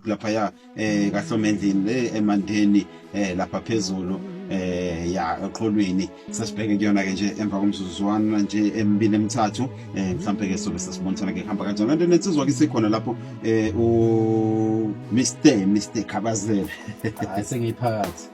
laphaya eh kahlomendlini le emandeni eh lapha phezulu eh ya eqholweni sesibheke kuyona ke nje emva komzuzwana nje emibili emithathu eh mhlambe ke sobe sesibonisana ke hamba kanjani lento netsizwa ke sikhona lapho eh u Mr Mr Khabazela hayi sengiphakathi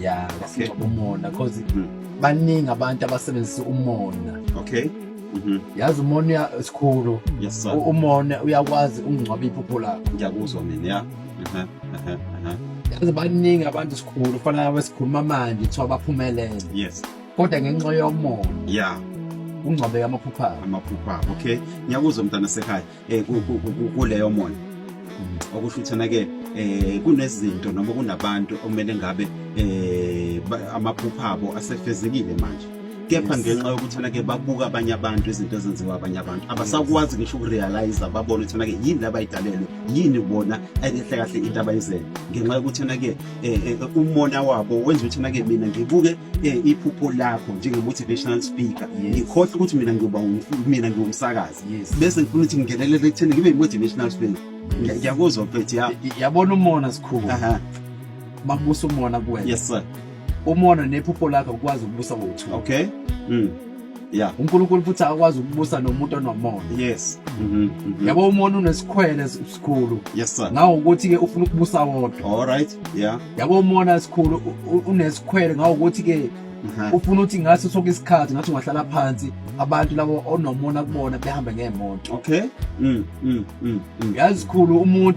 ya singcoba umona cause mm. baningi abantu abasebenzisa umona okay mhm. yazi umona sikhulu umona uyakwazi ukungcwaba iphupho lakho ngiyakuzwa mina ya yazi baningi abantu sikhulu kufanele abesikhuluma manje kuthiwa baphumelele yes kodwa ngenxa yomona ya kungcwabeka amaphupha amaphupha okay ngiyakuzwa mntana sekhaya eh, kuleyo moya okusho ukuthi na-ke eh kunezinto noma kunabantu okumele ngabe eh amaphupha abo asefezekile manje kepha ngenxa yokuthi na-ke babuka abanye abantu izinto ezenziwa abanye abantu abasakwazi ngisho ukurealize babone ukuthi na-ke yini labayidalelwe yini bona ekehle kahle into abayizele ngenxa yokuthi na-ke eh, eh, eh, umona wabo wenza ukuthi na-ke mina ngibuke iphupho lakho njenge-motivational speaker ngikhohle ukuthi mina ngiba mina ngiwumsakazi bese ngifuna ukuthi ngingenelele ekutheni ngibe yi-motivational speaker ngiyakuzwa mfethu ya yabona umona sikhulu makubusa umona kuwena yes sir umona nephupho lakho ukwazi ukubusa ngokuthuka okay mm. yeah uNkulunkulu futhi akwazi ukubusa nomuntu onomona yes mm -hmm. mm -hmm. yabo umuntu unesikhwele esikhulu yes sir ngawo ukuthi ke ufuna ukubusa wodwa all right yeah yabo umona esikhulu unesikhwele ngawo ukuthi ke Mhm. ufuna ukuthi ngaso sonke isikhathi ngathi ungahlala phansi abantu labo onomona kubona behambe ngemoto okay mm, mm, mm, mm. yazi khulu umuntu